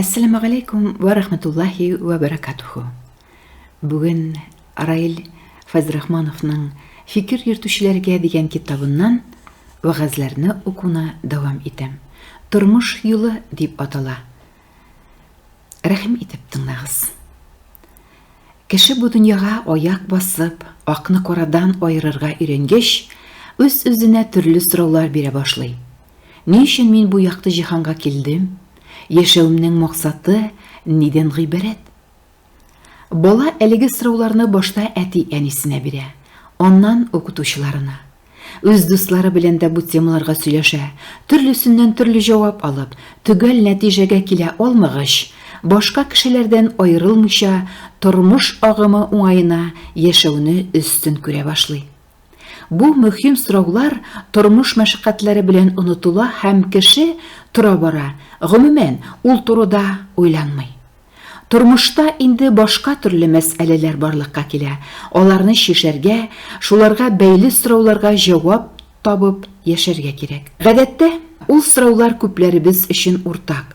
Әссәламәгаләйкүм вә рахмәтуллаһи вә бәрәкатүһү. Бүген Раил Фазрахмановның Фикер йөртүчеләргә дигән китабыннан вәгазьләрне укуны дәвам итәм. Тормыш юлы дип атала. Рәхим итеп тыңлагыз. Кеше бу дөньяга аяк басып, акны карадан аерырга өйрәнгәч, үз-үзенә төрле сораулар бирә башлый. Ни өчен мин бу якты җиһанга килдем? Яшәвемнең максаты нидән гыйбарәт? Бала әлеге сорауларны башта әти-әнисенә бирә, аннан укытучыларына. Үз дуслары белән дә бу темаларга сөйләшә, төрлесеннән төрле җавап алып, төгәл нәтиҗәгә килә алмагач, башка кешеләрдән аерылмыйча, тормыш агымы уңаена яшәүне өстен күрә башлый. Бу мөһим сораулар тормыш мәшәкатьләре белән онытыла һәм кеше тора-бара, гомумән, ул турыда уйланмый. Тормышта инде башка төрле мәсьәләләр барлыкка килә, аларны чишәргә, шуларга бәйле сорауларга җавап табып яшәргә кирәк. Гадәттә, ул сораулар күпләребез өчен уртак.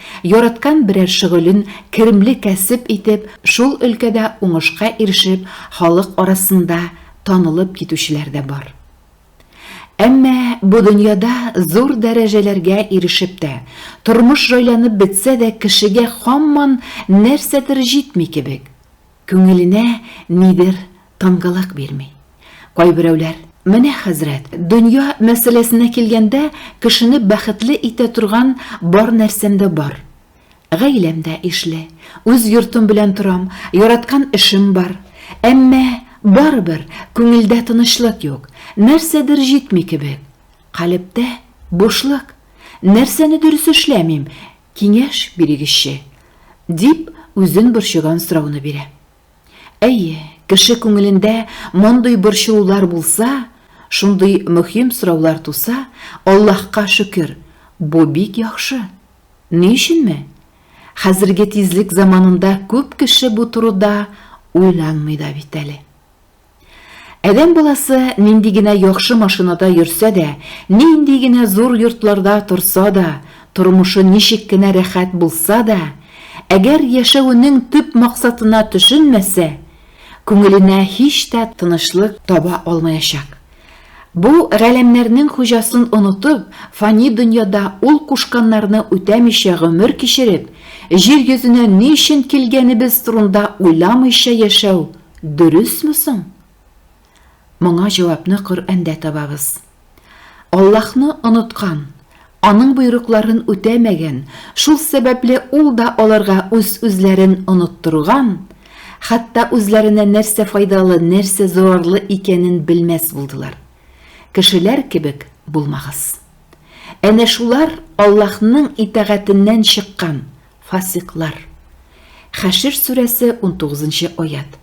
Яраткан берәр шөгылен керемле кәсеп итеп, шул өлкәдә уңышка ирешеп, халык арасында танылып китүчеләр дә бар. Әмма бу дөньяда зур дәрәҗәләргә ирешеп тә, тормыш җайланып бетсә дә кешегә һаман нәрсәдер җитми кебек. Күңеленә нидер тынгылык бирми. Кайберәүләр, Менә, хәзрәт, дөнья мәсьәләсенә килгәндә, кешене бәхетле итә торган бар нәрсәм дә бар. Гаиләм дә ишле, үз йортым белән торам, яраткан эшем бар. Әмма, барыбер, күңелдә тынычлык юк, нәрсәдер җитми кебек. Калебтә, бушлык. Нәрсәне дөрес эшләмим, Киңәш бирегезче, дип үзен борчыган сорауны бирә. Әйе, кеше күңелендә мондый борчылулар булса, шундый мөһим сораулар туса, Аллаһка шөкер, бу бик яхшы. Ни өченме? Хәзерге тизлек заманында күп кеше бу турыда уйланмый да бит әле. Адәм баласы нинди генә яхшы машинада йөрсә дә, нинди генә зур йортларда торса да, тормышы ничек кенә рәхәт булса да, әгәр яшәвенең төп максатына төшенмәсә, күңеленә һич тә тынычлык таба алмаячак. Бу галәмнәрнең хуҗасын онытып, фани дөньяда ул кушканнарны үтәмичә гомер кичереп, җир йөзенә ни өчен килгәнебез турында уйламыйча яшәү Дөресме соң? Моңа җавапны Коръәндә табабыз. Аллаһны оныткан, аның боерыкларын үтәмәгән, шул сәбәпле ул да аларга үз-үзләрен оныттырган, хәтта үзләренә нәрсә файдалы, нәрсә зарарлы икәнен белмәс булдылар. Кешеләр кебек булмагыз. Әнә шулар Аллаһның итагатеннән чыккан, Фасыйклар. Хәшер сүрәсе 19 нчы аять.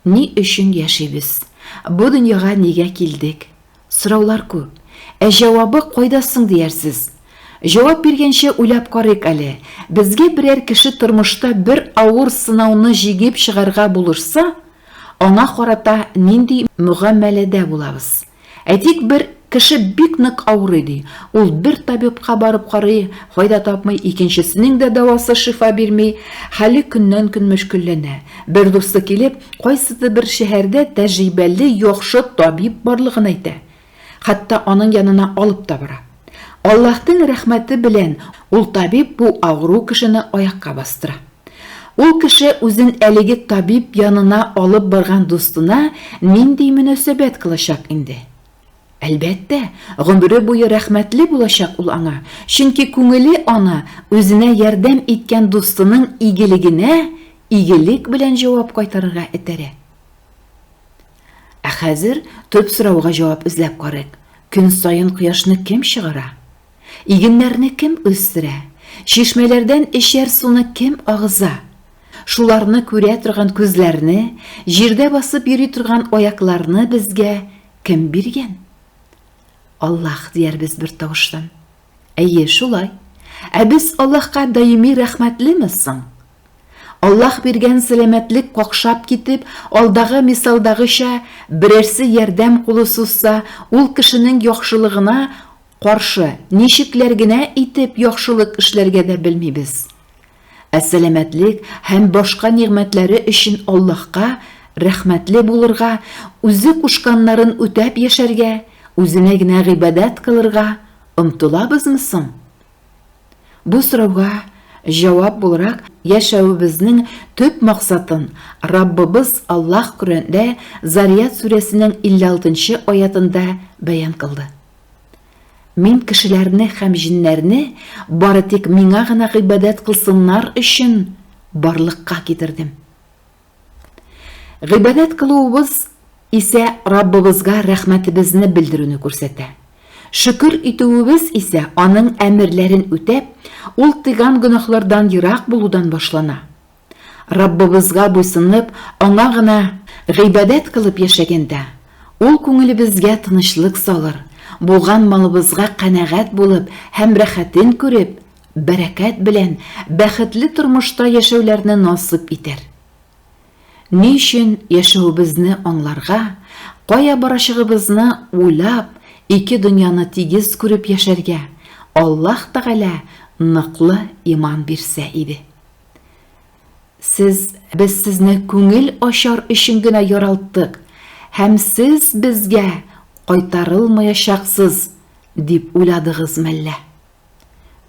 Ни өчен яшибез? Бу дөньяга нигә килдек? Сораулар күп. Ә җавабы кайда соң диярсез? Җавап биргәнче уйлап карыйк әле. Безгә берәр кеше тормышта бер авыр сынауны җигеп чыгарга булышса, аңа карата нинди мөгамәләдә булабыз? Әйтик, бер кеше бик нык авырый ди. Ул бер табибка барып карый, файда тапмый, икенчесенең дә дәвасы шифа бирми, хәле көннән-көн мөшкелләнә. Бер дусты килеп, кайсыдыр бер шәһәрдә тәҗрибәле яхшы табиб барлыгын әйтә. Хәтта аның янына алып та бара. Аллаһтың рәхмәте белән ул табиб бу авыру кешене аякка бастыра. Ул кеше үзен әлеге табиб янына алып барган дустына нинди мөнәсәбәт кылачак инде? Әлбәттә, гомере буе рәхмәтле булачак ул аңа, чөнки күңеле аны үзенә ярдәм иткән дустының игелегенә игелек белән җавап кайтарырга этәрә. Ә хәзер төп сорауга җавап эзләп карыйк, көн саен кояшны кем чыгара? Игеннәрне кем үстерә? Чишмәләрдән эчәр суны кем агыза? Шуларны күрә торган күзләрне, җирдә басып йөри торган аякларны безгә кем биргән? Аллаһ диярбез бер тавыштан. Әйе, шулай. Ә без Аллаһка даими рәхмәтлеме соң? Аллаһ биргән сәламәтлек какшап китеп, алдагы мисалдагыча, берәрсе ярдәм кулы сузса, ул кешенең яхшылыгына каршы ничекләр генә итеп яхшылык эшләргә дә белмибез. Ә сәламәтлек һәм башка нигъмәтләре өчен Аллаһка рәхмәтле булырга, Үзе кушканнарын үтәп яшәргә, Үзенә генә гыйбадәт кылырга омтылабызмы соң? Бу сорауга җавап буларак яшәвебезнең төп максатын Раббыбыз Аллаһ Коръәндә Зарият сүрәсенең 56 нчы аятында бәян кылды. Мин кешеләрне һәм җиннәрне бары тик Миңа гына гыйбадәт кылсыннар өчен барлыкка китердем. Гыйбадәт кылуыбыз исә Раббыбызга рәхмәтебезне белдерүне күрсәтә. Шөкер итүебез исә аның әмерләрен үтәп, ул тыйган гөнаһлардан ерак булудан башлана. Раббыбызга буйсынып, аңа гына гыйбадәт кылып яшәгәндә, ул күңелебезгә тынычлык салыр, булган малыбызга канәгать булып һәм рәхәтен күреп, бәрәкәт белән бәхетле тормышта яшәүләрне насыйп итәр. Ни өчен яшәвебезне аңларга, кая барачагыбызны уйлап, ике дөньяны тигез күреп яшәргә Аллаһ Тәгалә ныклы иман бирсә иде. Сез, без сезне күңел ачар өчен генә яралттык һәм сез безгә кайтарылмаячаксыз дип уйладыгыз мәллә?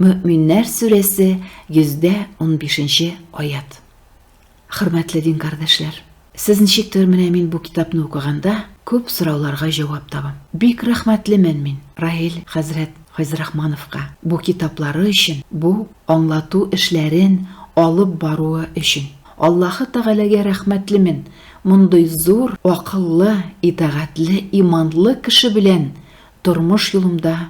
Мөэминнәр сүрәсе 115-нче аят. Хөрмәтле дин кардәшләр, сез ничектер менә мин бу китапны укыганда күп сорауларга җавап табам. Бик рәхмәтлемен мин Раил хәзрәт Файзрахмановка бу китаплары өчен, бу аңлату эшләрен алып баруы өчен. Аллаһы Тәгаләгә рәхмәтлемен, мондый зур акыллы, итагатьле, иманлы кеше белән тормыш юлымда